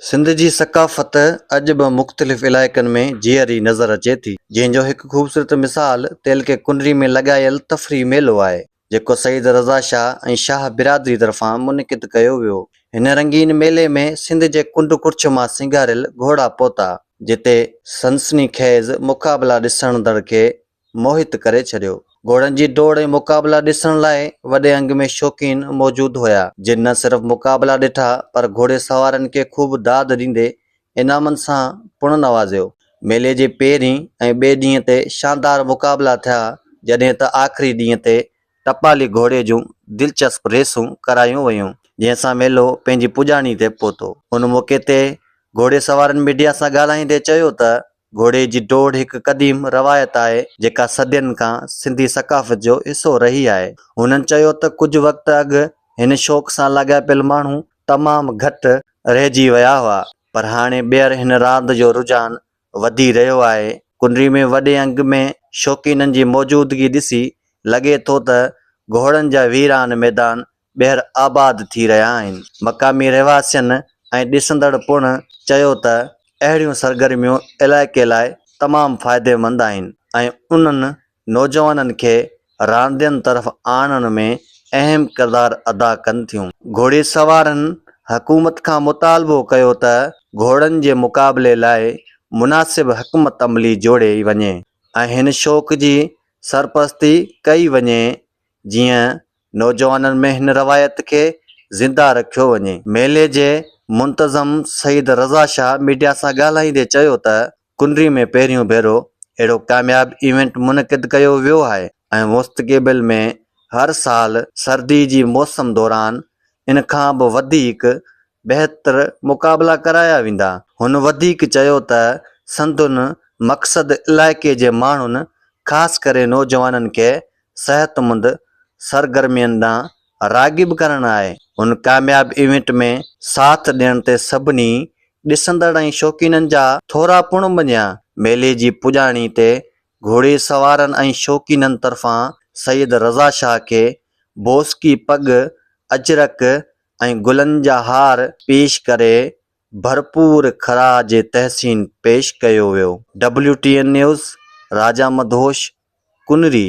سنڌ جي ثقافت اڄ به مختلف علائقن ۾ جيئري نظر اچي ٿي، جنهن جو هڪ خوبصورت مثال تعلقي ڪنري ۾ لڳايل تفريح ميلو آهي، جيڪو سيد رضا شاهه ۽ شاهه برادري طرفان منعقد ڪيو ويو. هن رنگين ميلي ۾ سنڌ جي ڪنڊ ڪڙڇ مان سينگاريل گهوڙا پهتا، جتي سنسني خيز مقابلا ڏسندڙن کي موهت ڪري ڇڏيو. گهوڙن جي ڊوڙ ۽ مقابلا ڏسڻ لاء وڏي انگ ۾ شوقين موجود هيا، جن نه صرف مقابلا ڏٺا پر گهوڙي سوارن کي خوب داد ڏيندي انعامن سان پڻ نوازيو. ميلي جي پهرين ۽ ٻئي ڏينهن تي شاندار مقابلا ٿيا، جڏهن ته آخري ڏينهن تي ٽپالي گهوڙي جون دلچسپ ريسون ڪرايون ويون، جنهن سان ميلو پنهنجي پڄاڻي تي پهتو. ان موقعي تي گهوڙي سوارن ميڊيا سان ڳالهائيندي چيو ته گهوڙي جي ڊوڙ هڪ قديم روايت آهي، جيڪا صدين کان سنڌي ثقافت جو حصو رهي آهي. هنن چيو ته ڪجهه وقت اڳ هن شوق سان لاڳاپيل ماڻهو تمام گهٽ رهجي ويا هئا، پر هاڻي ٻيهر هن راند جو رجحان وڌي رهيو آهي. ڪنري ۾ وڏي انگ ۾ شوقينن جي موجودگي ڏسي لڳي ٿو ته گهوڙن جا ويران ميدان ٻيهر آباد ٿي رهيا آهن. مقامي رهواسين ۽ ڏسندڙ پڻ چيو ته اهڙيون سرگرميون علائقي لاء تمام فائديمند آهن ۽ انهن نوجوانن کي راندين طرف آڻڻ ۾ اهم ڪردار ادا ڪن ٿيون. گهوڙي سوارن حڪومت کان مطالبو ڪيو ته گهوڙن جي مقابلي لاء مناسب حڪمت عملي جوڙي وڃي ۽ هن شوق جي سرپرستي ڪئي وڃي جيئن نوجوانن ۾ هن روايت کي زنده رکيو وڃي. ميلي جي منتظم سيد رضا شاهه ميڊيا سان ڳالهائيندي چيو ته ڪنري ۾ پهريون ڀيرو اهڙو ڪامياب ايونٽ منعقد ڪيو ويو آهي ۽ مستقبل ۾ هر سال سردي جي موسم دوران ان کان به وڌيڪ بهتر مقابلا ڪرايا ويندا. هن وڌيڪ چيو ته سندن مقصد علائقي جي ماڻهن خاص ڪري نوجوانن کي صحتمند سرگرمين ڏانهن راغب ڪرڻ آهي. هن ڪامياب ايونٽ ۾ ساٿ ڏيڻ تي سڀني ڏسندڙ ۽ شوقينن جا ٿورا پڻ مڃيا. ميلي جي پڄاڻي تي گهوڙي سوارن ۽ شوقينن طرفان سيد رضا شاهه کي بوسڪي پڳ، اجرڪ ۽ گلن جا هار پيش ڪري ڀرپور خراج تحسين پيش ڪيو ويو. W T N news, Raja Madhosh, Kunri.